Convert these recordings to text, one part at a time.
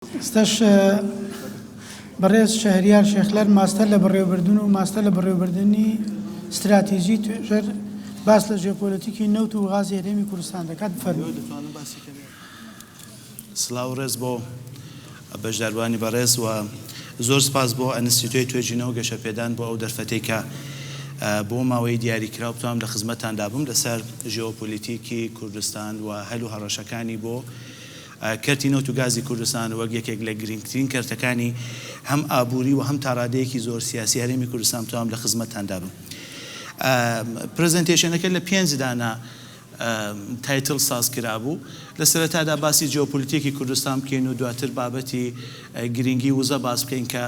ئێستاش بەڕێز شەهریار شێخلەر ماستەر لە بەڕێوەبردن و ماستەر لە بەڕێوەبردنی ستراتیژی توێژەر باس لە ژێپۆلەتیکی نەوت و غازی هەرێمی کوردستان دەکات بفەرموو دەتوانم باسی کەم سلاو ڕێز بۆ بەشداروانی بەڕێز و زۆر سپاس بۆ ئەنستیتۆی توێژینەوە گەشەپێدان بۆ ئەو دەرفەتەی کە بۆ ماوەی دیاری کراو بتوانم لە خزمەتتان دابم لەسەر ژێۆپۆلیتیکی کوردستان و هەل و هەڕەشەکانی بۆ کەرتی نەوت و گازی کوردستان وەک یەکێک لە گرنگترین کەرتەکانی هەم ئابووری و هەم تا ڕادەیەکی زۆر سیاسی هەرێمی کوردستان بتوام لە خزمەتتاندا بم. پرزێنتەیشەنەکە لە پێنج دانە تایتڵ ساز کرابوو. لە سەرەتادا باسی جیۆپۆلیتیکی کوردستان بکەین و دواتر بابەتی گرنگی وزە باس بکەین کە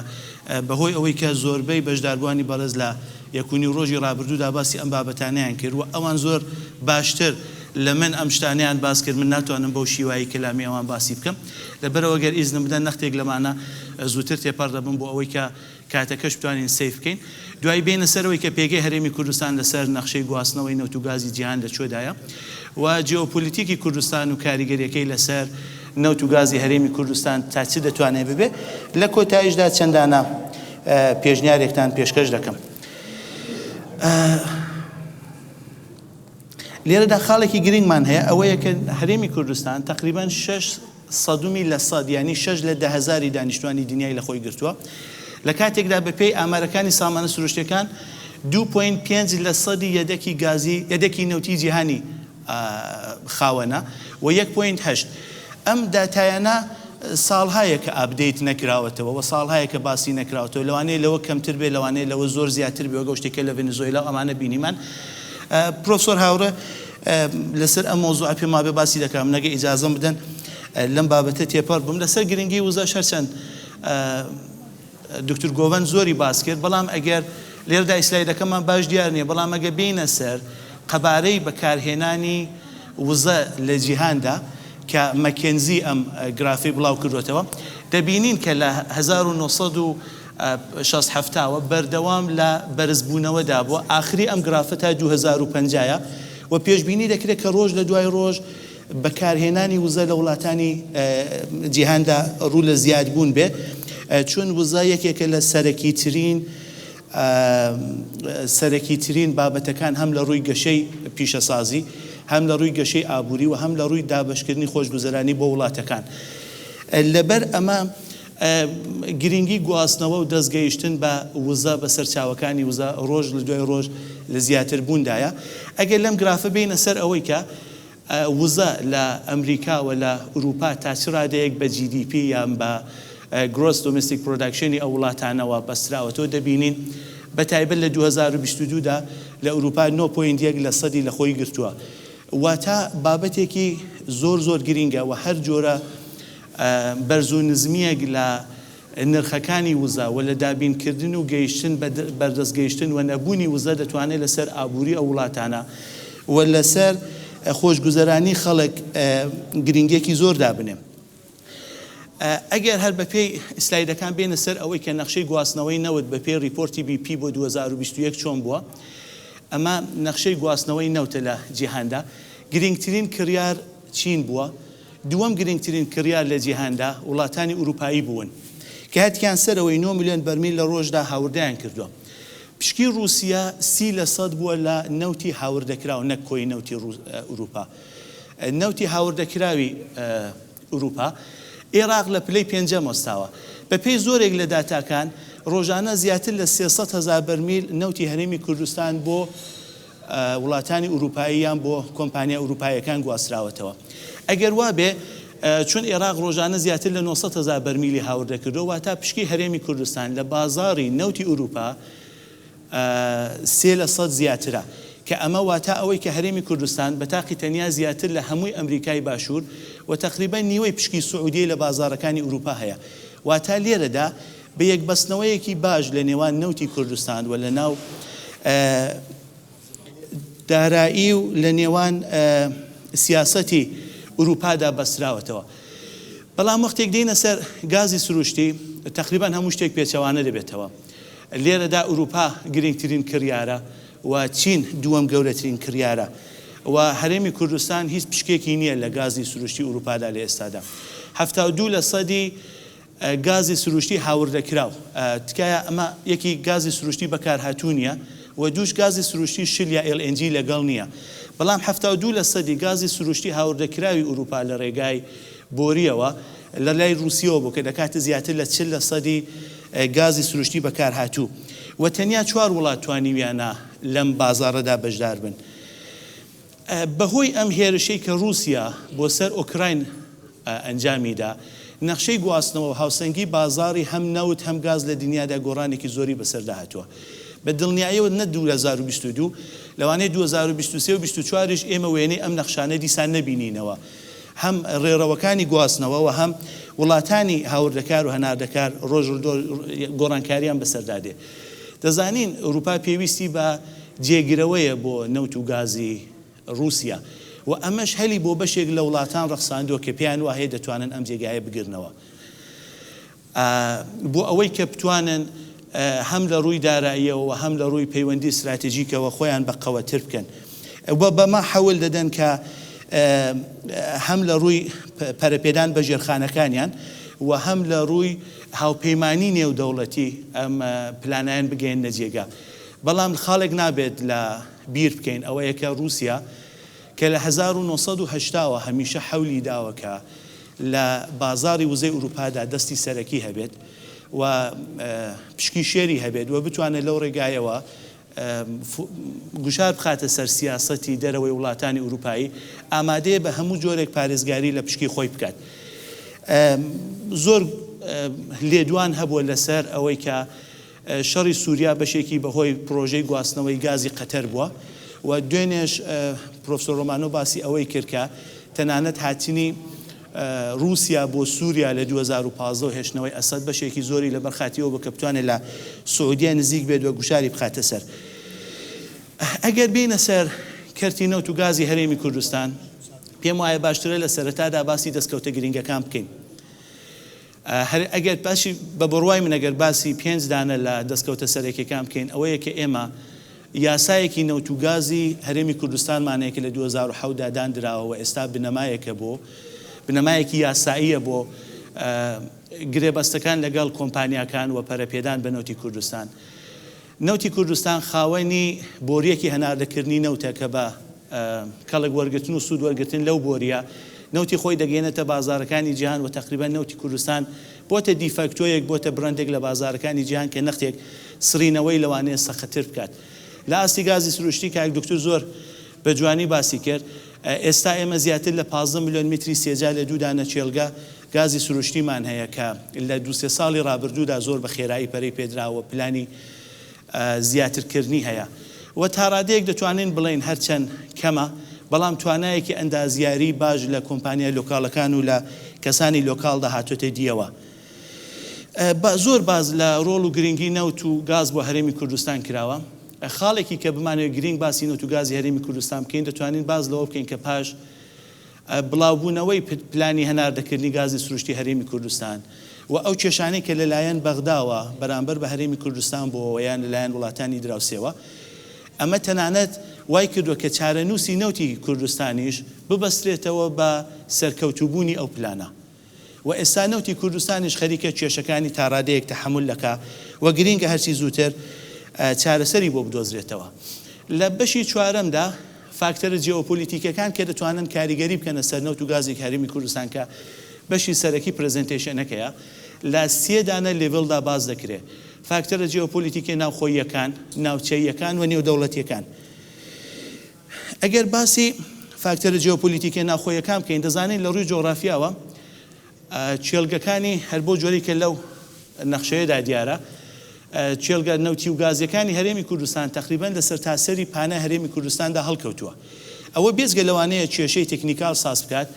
بەهۆی ئەوەی کە زۆربەی بەشداربووانی بەڕێز لە یەک و نیو ڕۆژی ڕابردوودا باسی ئەم بابەتانەیان کرد و ئەوان زۆر باشتر لە من ئەم شتانەیان باس کرد من ناتوانم بەو شیوایی کەلامی ئەوان باسی بکەم لەبەرئەوە گەر ئیزنم بدەن نەختێک لەمانە زووتر تێپەڕ دەبم بۆ ئەوەی کە کاتەکەش بتوانین سەیر بکەین. دوایی بێینە سەرەوەی کە پێگەی هەرێمی کوردستان لەسەر نەخشەی گواستنەوەی نەوت و گازی جیهان لە کوێدایە و جیۆپۆلیتیکی کوردستان و کاریگەریەکەی لەسەر نەوت و گازی هەرێمی کوردستان تا چ دەتوانێت ببێت. لە کۆتاییشدا چەند دانە پێشنیارێکتان پێشکەش دەکەم. لێرەدا خاڵێکی گرنگمان هەیە، ئەوەیە کە هەرێمی کوردستان تەقریبەن شەش سەدومی لە سەد یانی شەش لە دە هەزاری دانیشتوانی دنیای لە خۆی گرتووە، لە کاتێکدا بە پێی ئامارەکانی سامانە سروشتیەکان دوو پۆینت پێنج لە سەدی یەدەکی گازی یەدەکی نەوتی جیهانی خاوەنە و یەک پۆینت هەشت. ئەم داتایانە ساڵهایە کە ئاپدەیت نەکراوەتەوە و ساڵهایە کە باسی نەکراوەتەوە، لەوانەیە لەوە کەمتر بێت لەوانەیە لەوە زۆر زیاتر بێت وەک ئەو شتەی کە لە ڤەنزۆیلا و ئەمانە بینیمان. پرۆفسۆر هاوڕێ لەسەر ئەم مەوزوعە پێم وابێ باسی دەکەم نەگە ئیجازەم بدەن لەم بابەتە تێپەڕ بم لەسەر گرنگی وزە شەرچەند دکتور گۆڤەن زۆری باس کرد بەڵام ئەگەر لێردا ئیسلایدەکەمان باش دیار نییە بەڵام ئەگە بینە سەر قەبارەی بەکارهێنانی وزە لە جیهاندا کە مەکێنزی ئەم گرافی بڵاو کردوێتەوە دەبینین کە لە 1970 شەست حەفتا و بەردەوام لە بەرزبوونەوەدا بۆ ئاخری ئەم گرافە تا دوو هەزار و پەنجا یە و پێشبینی دەکرێت کە ڕۆژ لە دوای ڕۆژ بەکارهێنانی وزە لە وڵاتانی جیهاندا ڕوو لە زیادبوون بێ چون وزە یەکێکە لە سەرەکی ترین سەرەکی ترین بابەتەکان هەم لە ڕووی گەشەی پیشەسازی هەم لە ڕووی گەشەی ئابووری و هەم لە ڕووی دابشکردنی خۆشگوزەرانی بۆ وڵاتەکان لەبەر ئەمە گرنگی گواستنەوە و دەست گەیشتن بە وزە بە سەرچاوەکانی وزە ڕۆژ لە دوای ڕۆژ لە زیاتر بووندایە ئەگەر لەم گرافە بێینە سەر ئەوەی کە وزە لە ئەمریکا و لە ئورووپا تا چ ڕادەیەک بە جی دی پی یان بە گرۆس دۆمێستیک پرۆداکشنی ئەو وڵاتانەوە بەستراوەتەوە دەبینین بە تایبەت لە دوو هەزار و بیست و دوو دا لە ئورووپا نۆ پۆینت یەک لە سەدی لە خۆی گرتووە واتە بابەتێکی زۆر زۆر گرنگە و هەر جۆرە بەرز و نزمییەک لە نرخەکانی وزە و لە دابینکردن و گەیشتن بە بەردەست گەیشتن و نەبوونی وزە دەتوانێت لەسەر ئابووری ئەو وڵاتانە و لەسەر خۆشگوزەرانی خەڵک گرینگیەکی زۆر دابنێ. ئەگەر هەر بەپێی ئسلایدەکان بێینە سەر ئەوەی کە نەخشەی گواستنەوەی نەوت بەپێی ڕیپۆرتی بی پی بۆ دوو هەزار و بیست و یەک چۆن بووە؟ ئەمە نەخشەی گواستنەوەی نەوتە لە جیهاندا. گرینگترین کڕیار چین بووە دووەم گرنگترین کڕیار لە جیهاندا، وڵاتانی ئورووپایی بوون کە هەتکیان سەرەوەی نۆ ملیۆن بەرمیل لە ڕۆژدا هاوردەیان کردووە. پشکی ڕووسیە سی لە سەد بووە لە نەوتی هاوردەکراو نەک کۆی نەوتی ئورووپا. نەوتی هاوردەکراوی ئورووپا، ئێراق لە پلەی پێنجەم وەستاوە. بە پێی زۆرێک لە داتاکان، ڕۆژانە زیاتر لە سێ سەد هەزار بەرمیل نەوتی هەرێمی کوردستان بۆ. وڵاتانی ئورووپاییان بۆ کۆمپانیا ئورووپاییەکان گواستراوەتەوە. ئەگەر وا بێ، چون ئێراق ڕۆژانە زیاتر لە نۆ سەد هەزار بەرمیلی هاورد دەکردەوە، واتا پشکی هەرێمی کوردستان لە بازاڕی نەوتی ئورووپا سێ لە سەد زیاترە، کە ئەمە واتا ئەوەی کە هەرێمی کوردستان بە تاقی تەنیا زیاتر لە هەمووی ئەمریکای باشوور و تەقریبەن نیوەی پشکی سعودیەی لە بازاڕەکانی ئورووپا هەیە. واتا لێرەدا بە یەکبەستنەوەیەکی باش لە نێوان نەوتی کوردستان و لە ناو دارایی و لە نێوان سیاسەتی ئوروپادا بەستراوەتەوە بەڵام وەختێک دێنە سەر گازی سروشتی تقریبان هەموو شتێک پێچەوانە دەبێتەوە لێرەدا ئوروپا گرنگترین کڕیارە و چین دووەم گەورەترین کڕیارە و هەرێمی کوردستان هیچ پشکێکی نییە لە گازی سروشتی ئوروپادا لە ئێستادا هەفتا و دوو لە سەدی گازی سروشتی هاوردەکراو، تکایە ئەمە یەکی گازی سروشتی بەکارهاتوو نییە و دووش گازی سروشتی شل یا ئێل ئێن جی لەگەڵ نییە، بەڵام حەفتا و دوو لەسەدی گازی سروشتی هاوردەکراوی ئورووپا لە رێگای بۆرییەوە لە لای رووسیەوە بوو کە دەکاتە زیاتر لە چل لەسەدی گازی سروشتی بەکارهاتوو و تەنیا چوار وڵات توانیویانە لەم بازاڕەدا بەشدار بن. بەهۆی ئەم هێرشەی کە ڕووسیا بۆ سەر ئۆکراین ئەنجامی دا، نەخشەی گواستنەوە و هاوسەنگی بازاڕی هەم نەوت هەم گاز لە دنیادا گۆڕانێکی زۆری بەسەردا هاتووە. بە دڵنیایەوە نە دوو هەزار و بیست و دوو، لەوانەیە دوو هەزار و بیست و سێ و بیست و چوار یش ئێمە وێنەی ئەم نەخشانە دیسان نەبینینەوە. هەم ڕێڕەوەکانی گواستنەوە و هەم وڵاتانی هاوردەکار و هەناردەکار ڕۆژ گۆڕانکارییان بەسەردا دێ. دەزانین ئەوروپا پێویستی بە جێگرەوەیە بۆ نەوت و گازی ڕووسیا و ئەمەش هەلی بۆ بەشێک لە وڵاتان ڕەخساندووە کە پێیان وایە دەتوانن ئەم جێگایە بگرنەوە بۆ ئەوەی کە بتوانن هەم لە ڕووی داراییەوە و هەم لە ڕووی پەیوەندی ستراتیژیکەوە خۆیان بە قەوەتر بکەن و بەمە حەول دەدەن کە هەم لە ڕووی پەرەپێدان بە ژێرخانەکانیان و هەم لە ڕووی هاوپەیمانی نێودەوڵەتی ئەم پلانەیان بگەیەننە جێگە. بەڵام خاڵێک نابێت لە بیر بکەین ئەوەیە کە ڕووسیا کە لە هەزار و نۆ سەد و هەشتا وە هەمیشە حەولی داوە کە لە بازاڕی وزەی ئورووپادا دەستی سەرەکی هەبێت و پشکی شێری هەبێت و بتوانێت لەو ڕێگایەوە گوشار بخاتە سەر سیاسەتی دەرەوەی وڵاتانی ئورووپایی، ئامادەیە بە هەموو جۆرێک پارێزگاری لە پشکی خۆی بکات. زۆر لێدوان هەبووە لەسەر ئەوەی کە شەڕی سووریا بەشێکی بەهۆی پڕۆژەی گواستنەوەی گازی قەتەر بووە و دوێنێش پرۆفسۆر ڕۆمانۆ باسی ئەوەی کرد کە تەنانەت هاتنی ڕووسیا بۆ سووریا لە دوو هەزار و پازدە و هێشتنەوەی ئەسەد بەشێکی زۆری لەبەر خاتری ئەوە بوو کە بتوانێت لە سعودیە نزیک بێت و گوشاری بخاتە سەر. ئەگەر بێینە سەر کەرتی نەوت و گازی هەرێمی کوردستان، پێم وایە باشترە لە سەرەتادا باسی دەستکەوتە گرنگەکان بکەین. هەر ئەگەر باشی بە بڕوای من ئەگەر باسی پێنج دانە لە دەستکەوتە سەرەکیەکان بکەین ئەوەیە کە ئێمە یاسایەکی نەوت و گازی هەرێمی کوردستانمان هەیە کە لە دوو هەزار و حەوت دا داندراوە و ئێستا بنەمایەکە بۆ بنەمایەکی یاساییە بۆ گرێبەستەکان لەگەڵ کۆمپانیاکان و پەرەپێدان بە نەوتی کوردستان. نەوتی کوردستان خاوەنی بۆرییەکی هەناردەکردنی نەوتە کە بە کەڵک وەرگرتن و سوود وەرگرتن لەو بۆرییە نەوتی خۆی دەگەیەنێتە بازارەکانی جیهان و تەقریبەن نەوتی کوردستان بۆتە دیفاکتۆیەک بۆتە برەندێک لە بازارەکانی جیهان کە نەختێک سڕینەوەی لەوانەیە سەختتر بکات لە ئاستی گازی سروشتی کاک دوکتور زۆر بە جوانی باسی کرد ئێستا ئێمە زیاتر لە پازدە ملیۆن متری سێجا لە دوو دانە کێڵگە گازی سروشتیمان هەیە کە لە دوو سێ ساڵی ڕابردوودا زۆر بە خێرایی پەرەی پێدراوە، پلانی زیاترکردنی هەیە و تا ڕادەیەک دەتوانین بڵێین هەرچەند کەمە، بەڵام توانایەکی ئەندازیاریی باش لە کۆمپانیا لۆکاڵەکان و لە کەسانی لۆکاڵدا هاتۆتە دییەوە. زۆر باس لە ڕۆڵ و گرنگی نەوت و گاز بۆ هەرێمی کوردستان کراوە. خاڵێکی کە بمانەوێت گرنگ باسی نەوت و گازی هەرێمی کوردستان بکەین، دەتوانین باس لەوە بکەین کە پاش، بڵاوبوونەوەی پلانی هەناردەکردنی گازی سروشتی هەرێمی کوردستان و ئەو کێشانەی کە لەلایەن بەغداوە بەرامبەر بە هەرێمی کوردستان بۆوە یان لەلایەن وڵاتانی دراوسێوە ئەمە تەنانەت وای کردووە کە چارەنووسی نەوتی کوردستانیش ببەسترێتەوە بە سەرکەوتووبوونی ئەو پلانە. و ئێستا نەوتی کوردستانیش خەریکە کێشەکانی تاڕادەیەک تەحەمول دەکا و گرینگە هەرچی زووتر چارەسەری بۆ بدۆزرێتەوە. لە بەشی چوارەمدا فاکتەرە جیۆپۆلیتیکیەکان کە دەتوانن کاریگەری بکەنە سەر نەوت و گازی هەرێمی کوردستان کە بەشی سەرەکی پرەزێنتەیشەنەکەیە لە سێ دانە لێڤڵدا باس دەکرێ فاکتەرە جیۆپۆلیتیکیە ناوخۆییەکان، ناوچەییەکان و نێودەوڵەتیەکان. ئەگەر باسی فاکتەرە جیۆپۆلیتیکە ناوخۆیەکان بکەین، دەزانین لە ڕووی جۆغرافیاوە کێڵگەکانی هەر بەو جۆرەی کە لەو نەخشەیەدا دیارە، کێڵگە نەوتی و گازییەکانی هەرێمی کوردستان تەقریبەن لە سەرتاسەری پانای هەرێمی کوردستاندا هەڵکەوتووە. ئەوە بێجگە لەوانەیە کێشەی تەکنیکال ساز بکات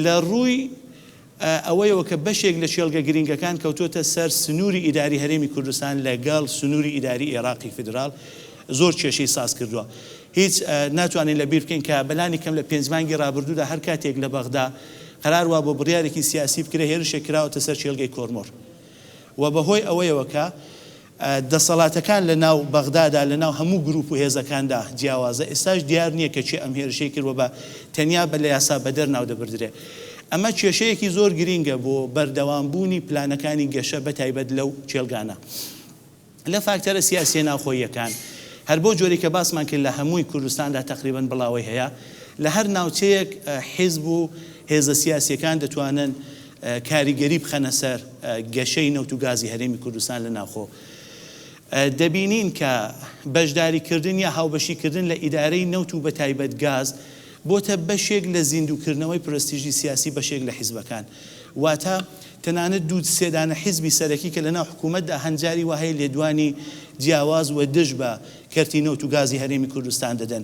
لە ڕووی. ئەوەیەوە کە بەشێک لە کێڵگە گرینگەکان کەوتۆتە سەر سنووری ئیداری هەرێمی کوردستان لە گەڵ سنووری ئیداری ئێڕاقی فیدراڵ زۆر کێشەی ساز کردووە هیچ ناتوانین لە بیر بکەین کە بەلانی کەم لە پێنج مانگی ڕابردوودا هەر کاتێک لە بەغدا قەرار وابوو بڕیارێکی سیاسی بکرێ هێرشێک کراوەتە سەر کێڵگەی کۆرمۆر و بە هۆی ئەوەیەوە کە دەسەڵاتەکان لە ناو بەغدادا لە ناو هەموو گروپ و هێزەکاندا جیاوازە، ئێستاش دیار نییە کە کێ ئەم هێرشەی کرد و بە تەنیا بە لە یاسا بەدەر ناو دەبردرێ. ئەمە کێشەیەکی زۆر گرینگە بۆ بەردەوام بوونی پلانەکانی گەشە بە تایبەت لەو کێلگانە لە فاکتەرە سیاسییە ناوخۆییەکان. هەر بەو جۆرەی کە باسمان کرد لە هەمووی کوردستاندا تەقریبەن بڵاوەی هەیە لە هەر ناوچەیەک حیزب و هێزە سیاسییەکان دەتوانن کاریگەری بخەنە سەر گەشەی نەوت و گازی هەرێمی کوردستان لە ناوخۆ. دەبینین کە بەشداریکردن یا هاوبەشیکردن لە ئیدارەی نەوت و بەتایبەت گاز بۆتە بەشێک لە زیندووکردنەوەی پرەستیژی سیاسی بەشێک لە حیزبەکان. واتە تەنانەت دوو سێ دانە حیزبی سەرەکی کە لە ناو حکوومەتدا هەن جاری وا هەیە لێدوانی جیاواز و دژ بە کەرتی نەوت و گازی هەرێمی کوردستان دەدەن.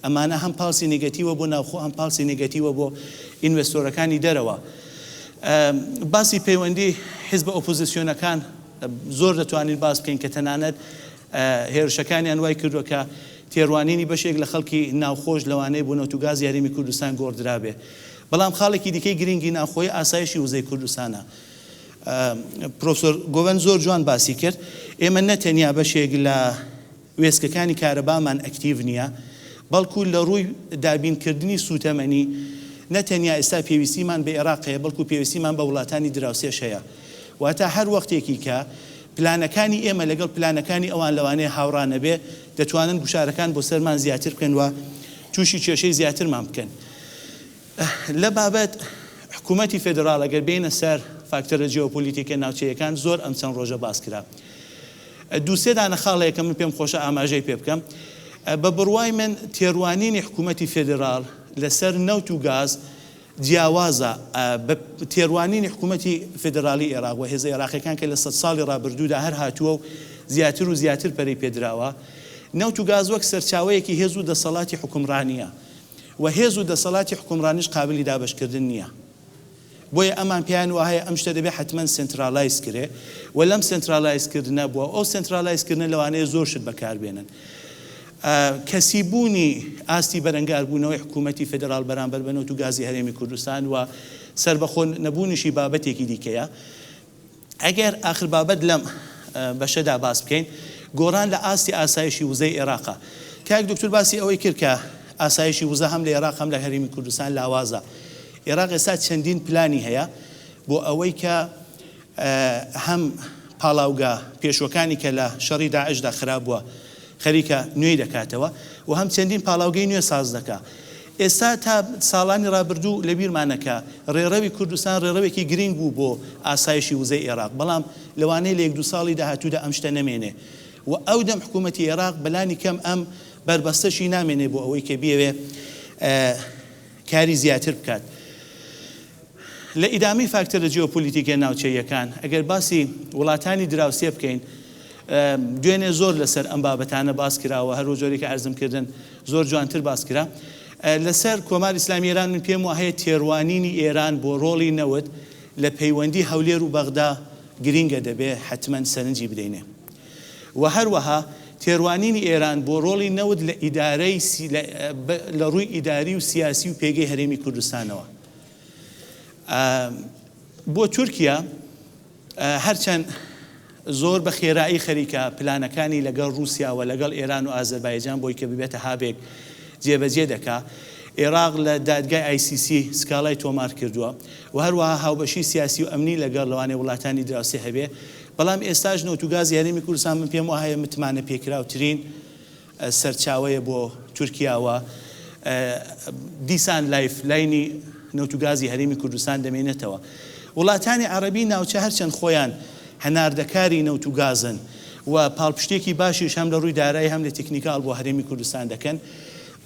ئەمانە هەم پاڵسی نێگەتیوە بۆ ناوخۆ هەم پاڵسی نێگەتیوە بۆ ئینڤێستۆرەکانی دەرەوە. باسی پەیوەندی حیزبە ئۆپۆزیسیۆنەکان زۆر دەتوانین باس بکەین کە تەنانەت هێرشەکانیان وای کردووە کە تێڕوانینی بەشێک لە خەڵکی ناوخۆش لەوانەیە بۆ نەوت و گازی هەرێمی کوردستان گۆڕدرابێ. بەڵام خاڵێکی دیکەی گرینگی ناوخۆی ئاسایشی وزەی کوردستانە. پرۆفسۆر گۆڤەند زۆر جوان باسی کرد ئێمە نە تەنیا بەشێک لە وێستگەکانی کارەبامان ئەکتیڤ نییە، بەڵکو لە ڕووی دابینکردنی سووتەمەنی، نە تەنیا ئێستا پێویستیمان بە ئێراق هەیە، بەڵکو پێویستیمان بە وڵاتانی دراوسێش هەیە. واتە هەر وەختێکی کە پلانەکانی ئێمە لەگەڵ پلانەکانی ئەوان لەوانەیە هاوڕا نەبێت، دەتوانن گوشارەکان بۆ سەرمان زیاتر بکەن و تووشی کێشەی زیاترمان بکەن. لە بابەت حکوومەتی فێدراڵ ئەگەر بێینە سەر فاکتەرە جیۆپۆلیتیکە ناوچەیەکان زۆر ئەم چەند ڕۆژە باس کرا. دوو سێ دانە خاڵ هەیە کە من پێم خۆشە ئاماژەی پێ بکەم. بە بڕوای من تێڕوانینی حکوومەتی فێدراڵ لەسەر نەوت و گاز جیاوازە بە تێڕوانینی حکوومەتی فێدراڵی ئێراق و هێزە ئێراقییەکان کە لە سەد ساڵی ڕابردوودا هەر هاتووە و زیاتر و زیاتر پەرەی پێ دراوە. نەوت و گاز وەک سەرچاوەیەکی هێز و دەسەڵاتی حوکمڕانییە. و هێز و دەسەڵاتی حوکمڕانیش قابلی دابەشکردن نییە. بۆیە ئەمان پێیان واهەیە ئەم شتە دەبێ حەتمەن سێنتراڵایز کرێ و لەم سێنتراڵایز کردنە بووە و ئەو سێنتراڵایز کردنە لەوانەیە زۆر شت بەکار بێنن. کەسی بوونی ئاستی بەرەنگار بوونەوەی حکوومەتی فێدراڵ بەرامبەر بە نەوت و گازی هەرێمی کوردستان و سەربەخۆ نەبوونیشی بابەتێکی دیکەیە. ئەگەر ئاخر بابەت لەم بەشەدا باس بکەین گۆڕان لە ئاستی ئاسایشی وزەی ئێراقە کاک دکتور باسی ئەوەی کرد کە ئاسایشی وزە هەم لە ئێراق هەم لە هەرێمی کوردستان لاوازە ئێراق ئێستا چەندین پلانی هەیە بۆ ئەوەی کە هەم پاڵاوگە پێشوەکانی کە لە شەڕی داعشدا خراپ بووە خەریکە نوێی دەکاتەوە و هەم چەندین پاڵاوگەی نوێ ساز دەکا ئێستا تا ساڵانی ڕابردوو لە بیرمانە کە ڕێڕەوی کوردستان ڕێڕەوێکی گرینگ بوو بۆ ئاسایشی وزەی ئێراق، بەڵام لەوانەیە لە یەک دوو ساڵی داهاتوودا ئەم شتە نەمێنێ و ئەو دەم حکوومەتی ئێراق بە لانی کەم ئەم بەربەستەشی نامێنێ بۆ ئەوەی کە بیەوێ کاری زیاتر بکات. لە ئیدامەی فاکتەرە جیۆپۆلیتیکە ناوچەییەکان، ئەگەر باسی وڵاتانی دراوسێ بکەین، دوێنێ زۆر لەسەر ئەم بابەتانە باس کراوە، هەر وەجۆرەی کە عەرزم کردن زۆر جوانتر باس کرا. لەسەر کۆماری ئیسلامیی ئێران من پێم واهەیە تێڕوانینی ئێران بۆ ڕۆڵی نەوت لە پەیوەندی هەولێر و بەغدا گرینگە دەبێ حەتمەن سەرنجی بدەینێ و هەروەها تێڕوانینی ئێران بۆ ڕۆڵی نەوت لە ئیدارەی لە ڕووی ئیداری و سیاسی و پێگەی هەرێمی کوردستانەوە. بۆ تورکیا هەرچەند زۆر بە خێرایی خەریکە پلانەکانی لەگەڵ رووسیا و لەگەڵ ئێران و ئازەربایجان بۆی کە ببێتە هابێک جێبەجێ دەکا عێراق لە دادگای ICC سکاڵای تۆمار کردووە و هەروەها هاوبەشی سیاسی و ئەمنی لەگەڵ لەوانێ وڵاتانی دراوسێ هەبێ بەڵام ئێستاش نەوتوگاز یاریمی کوردستان من پێم وهەیە متمانە پێکراوترین سەرچاوەیە بۆ تورکیا و دیسان لایف لاینی نەوت و گازی هەرێمی کوردستان دەمێنێتەوە. وڵاتانی عەڕەبی ناوچە هەرچەند خۆیان هەناردەکاری نەوت و گازن و پاڵپشتیەکی باشیش هەم لە ڕووی دارایی هەم لە تیکنیکاڵ بۆ هەرێمی کوردستان دەکەن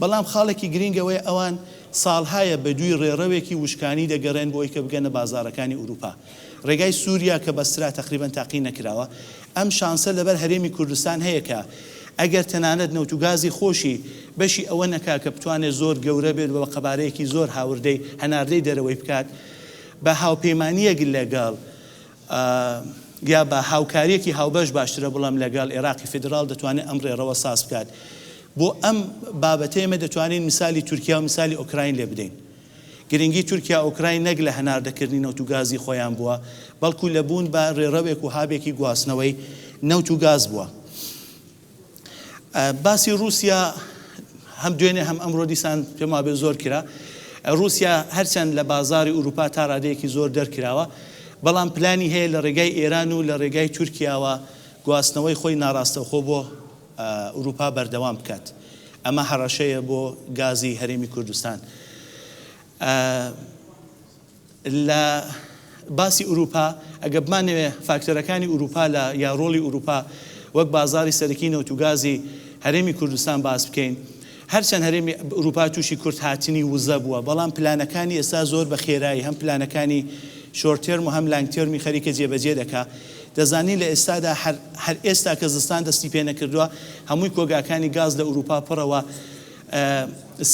بەڵام خاڵێکی گرینگ ئەوەیە ئەوان ساڵهایە بە دووی ڕێڕەوێکی وشکانی دەگەڕێن بۆ ئەوەی کە بگەنە بازاڕەکانی ئورووپا. ڕێگای سوریا کە بەسترا تەقریبەن تاقی نەکراوە، ئەم شانسە لەبەر هەرێمی کوردستان هەیە کە ئەگەر تەنانەت نەوت و گازی خۆشی بەشی ئەوە نەکا کە بتوانێت زۆر گەورە بێت و بە قەبارەیەکی زۆر هاوردەی هەناردەی دەرەوەی بکات بە هاوپەیمانییەک لەگەڵ یا بە هاوکارییەکی هاوبەش باشترە بڵێم لەگەڵ ئێراقی فیدراڵ دەتوانێت ئەم ڕێڕەوە ساز بکات بۆ ئەم بابەتەی ئێمە دەتوانین میسالی تورکیا و میسالی ئۆکراین لێ بدەین گرنگی تورکیا ئۆکراین نەک لە هەناردەکردنی نەوت و گازی خۆیان بووە، بەڵکو لە بوون بە رێڕەوێک و هابێکی گواستنەوەی نەوت و گاز بووە. باسی روسیا هەم دوێنێ هەم ئەمرۆ دیسان پێم وابێ زۆر کرا. روسیا هەرچەند لە بازاری ئوروپا تا رادەیەکی زۆر دەرکراوە، بەڵام پلانی هەیە لە رێگای ئێران و لە رێگای تورکیاوە گواستنەوەی خۆی ناراستەوخۆ بۆ ئورووپا بەردەوام بکات. ئەمە هەڕەشەیە بۆ گازی هەرێمی کوردستان. لە باسی ئورووپا ئەگەر بمانەوێ فاکتەرەکانی ئورووپا لە یا ڕۆڵی ئورووپا وەک بازاڕی سەرەکی نەوت و گازی هەرێمی کوردستان باس بکەین، هەرچەند هەرێمی ئورووپا تووشی کورتهاتنی وزە بووە، بەڵام پلانەکانی ئێستا زۆر بە خێرایی هەم پلانەکانی شۆرت تێرم و هەم لانگ تێرمی خەریکە جێبەجێ دەکا. دەزانین لە ئێستادا هەر هەر ئێستا کە زستان دەستی پێ نەکردووە هەمووی کۆگاکانی گاز لە ئورووپا پڕە و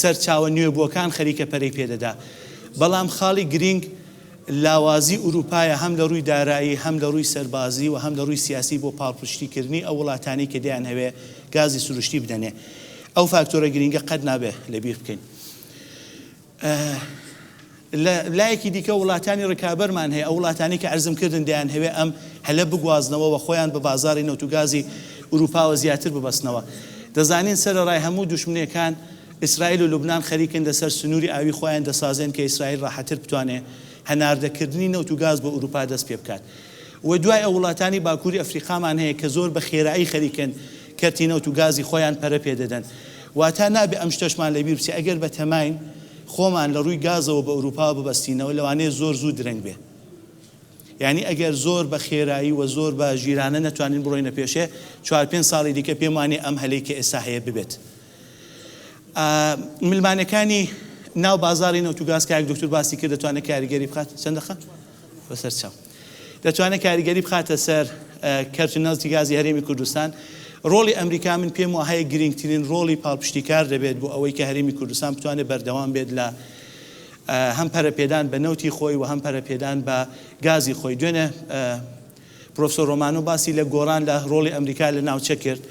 سەرچاوە نوێبووەکان خەریکە پەرەی پێ دەدا. بەڵام خاڵی گرینگ لاوازی ئورووپایە هەم لە ڕووی دارایی هەم لە ڕووی سەربازی و هەم لە ڕووی سیاسی بۆ پاڵپشتی کردنی ئەو وڵاتانەی کە دەیانهەوێ گازی سروشتی بدەنێ ئەو فاکتۆرە گرینگە قەت نابێ لە بیر بکەین لە لایەکی دیکە وڵاتانی ڕکابەرمان هەیە ئەو وڵاتانی کە ئەرزم کردن دەیانهەوێ ئەم هەلە بگوازنەوە و خۆیان بە بازاری نەوت و گازی ئورووپاوە زیاتر ببەستنەوە دەزانین سەرەڕای هەموو دوشمنێکان ئیسرائیل و لوبنان خەریکن لەسەر سنووری ئاویی خۆیان دەسازێن کە ئیسرائیل ڕاحەتتر بتوانێت هەناردەکردنی نەوت و گاز بۆ ئورووپا دەست پێ بکات و دوای ئەو وڵاتانی باکووری ئەفریقامان هەیە کە زۆر بە خێرایی خەریکن کەرتی نەوت و گازی خۆیان پەرە پێ دەدەن واتا نابێت ئەم شتەشمان لەبیر بچێت ئەگەر بە تەماین خۆمان لە ڕووی گازەوە بە ئورووپاوە ببەستینەوە لەوانەیە زۆر زوو درەنگ بێت یانی ئەگەر زۆر بە خێرایی و زۆر بە ژیرانە نەتوانین بڕۆینە پێشێ چوار پێنج ساڵی دیکە پێم وانییە ئەم هەلەی کە ئێستا هەیە ببێت ملمانێکانی ناو بازاری نەوت و گاز کە دوکتور باسی کرد دەتوانێت کاریگەری بخات چەند دەخە بەسەر چاو دەتوانێت کاریگەری بخاتە سەر کەرت و نەوتی گازی هەرێمی کوردستان ڕۆڵی ئەمریکا من پێم وهەیە گرنگترین ڕۆڵی پاڵپشتیکار دەبێت بۆ ئەوەی کە هەرێمی کوردستان بتوانێت بەردەوام بێت لە هەم پەرەپێدان بە نەوتی خۆی و هەم پەرەپێدان بە گازی خۆی دوێنێ پرۆفسۆر ڕۆمانۆ باسی لە گۆڕان لە ڕۆڵی ئەمریکا لە ناوچە کرد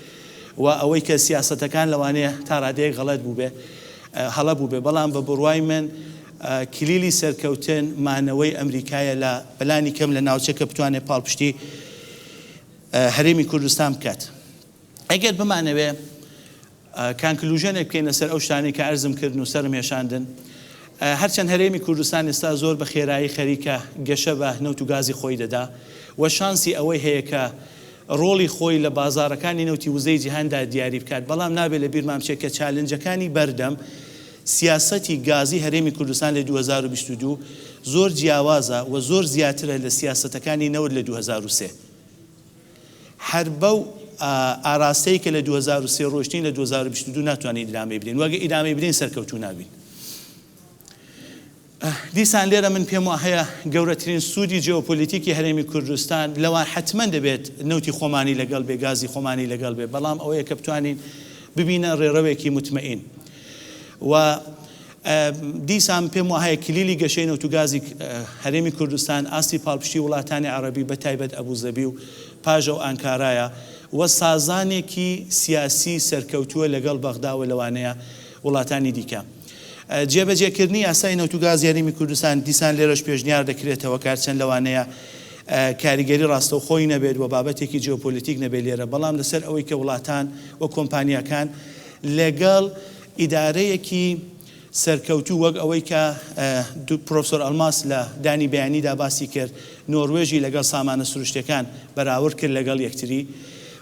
و ئەوەی کە سیاسەتەکان لەوانەیە تا ڕادەیەک غەڵەت بووبێ، هەڵە بووبێ، بەڵام بە بڕوای من کلیلی سەرکەوتن مانەوەی ئەمریکایە لە بەلانی کەم لە ناوچە کە بتوانێ پاڵپشتی هەرێمی کوردستان بکات. ئەگەر بمانەوێ کانکلوژێنێک بکەینە سەر ئەو شتانەی کە ئەرزم کردن و سەرم هێشاندن، هەرچەند هەرێمی کوردستان ئێستا زۆر بە خێرایی خەریکە گەشە بە نەوت و گازی خۆی دەدا و شانسی ئەوەی هەیە کە ڕۆڵی خۆی لە بازاڕەکانی نەوتی وزەی جیهاندا دیاری بکات، بەڵام نابێ لە بیرمان بچێ کە چالنجەکانی بەردەم سیاسەتی گازی هەرێمی کوردستان لە دوو هەزار و بیست و دوو زۆر جیاوازە و زۆر زیاترە لە سیاسەتەکانی نەوت لە دوو هەزار و سێ. هەر بەو ئاراستەی کە لە دوو هەزار و سێ ڕۆشتین لە دوو هەزار و بیست و دوو ناتوانین ئیدامەی بدەین وەگە ئیدامەی بدەین سەرکەوتوو نابین دیسان لێرە من پێم وا هەیە گەورەترین سوودی جیۆپۆلیتیکی هەرێمی کوردستان لەوە حتمما دەبێت نەوتی خۆمانی لەگەڵ بێ گازی خۆمانی لەگەڵ بێ بەڵام ئەوەیە کە بتوانین ببینە ڕێڕەوێکی متمەین و دیسان پێم وهایە کلیلی گەشەی نەوت و گازی هەرێمی کوردستان ئاستی پاڵپشتی وڵاتانی عەڕەبی بە تایبەت ئەبوزەبی و پاژە و ئانکارایە و سازانێکی سیاسی سەرکەوتووە لەگەڵ بەغدا و لەوانەیە وڵاتانی دیکە. جێبەجێکردنی یاسای نەوت و گازی هەرێمی کوردستان دیسان لێرەش پێشنیار دەکرێتەوە کارچەند لەوانەیە کاریگەری ڕاستەوخۆی نەبێت و بابەتێکی جیۆپۆلیتیک نەبێت لێرە بەڵام لەسەر ئەوەی کە وڵاتان و کۆمپانیاکان لەگەڵ ئیدارەیەکی سەرکەوتوو وەک ئەوەی کە پرۆفسۆر ئەلماس لە دانی بیانیدا باسی کرد، نۆروێژی لەگەڵ سامانە سروشتیەکان بەراورد کرد لەگەڵ یەکتری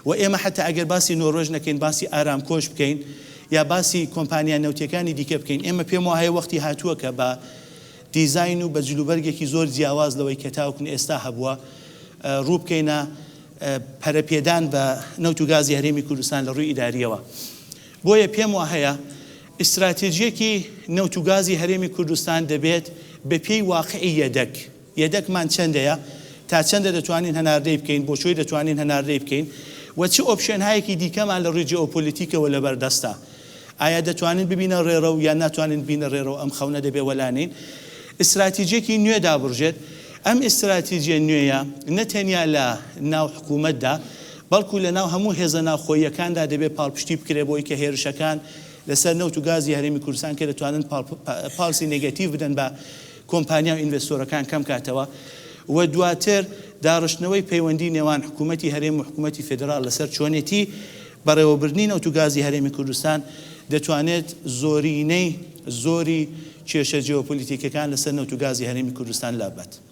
و ئێمە حەتا ئەگەر باسی نۆروێژ نەکەین باسی ئارامکۆش بکەین یا باسی کۆمپانیا نەوتیەکانی دیکە بکەین ئێمە پێم وایە وەختی هاتووە کە بە دیزاین و بە جلوبەرگێکی زۆر جیاواز لەوەی کە تاوەکو ئێستا هەبووە ڕوو بکەینە پەرەپێدان بە نەوت و گازی هەرێمی کوردستان لە ڕووی ئیداریەوە. بۆیە پێم واهەیە ئیستراتیجیەکی نەوت و گازی هەرێمی کوردستان دەبێت بە پێی واقعی یەدەک، یەدەکمان چەندەیە، تا چەندە دەتوانین هەناردەی بکەین، بۆ کوێ دەتوانین هەناردەی بکەین و چ ئۆپشێنهایەکی دیکەمان لە ڕووی جیۆپۆلیتیکەوە لەبەر دەستە. ئایا دەتوانین ببینە ڕێڕەو یان ناتوانین ببینە ڕێڕەو، ئەم خەونە دەبێت وەلا نین ئیستراتیجیەکی نوێ دابڕژێت. ئەم ئیستراتیجیە نوێیە نە تەنیا لە ناو حکوومەتدا، بەڵکو لەناو هەموو هێزە ناوخۆییەکاندا دەبێت پاڵپشتی بکرێت بۆی کە هێرشەکان لەسەر نەوت و گازی هەرێمی کوردستان کە دەتوانن پاڵپسی نێگەتیڤ بدەن بە کۆمپانیا و ئینڤێستۆرەکان کەم کاتەوە و دواتر داڕشتنەوەی پەیوەندی نێوان حکوومەتی هەرێم و حکوومەتی فیدراڵ لەسەر چۆنێتی بەڕێوەبردنی نەوت و گازی هەرێمی کوردستان دەتوانێت زۆرینەی زۆری کێشە جیۆپۆلیتیکیەکان لەسەر نەوت و گازی هەرێمی کوردستان لاببات.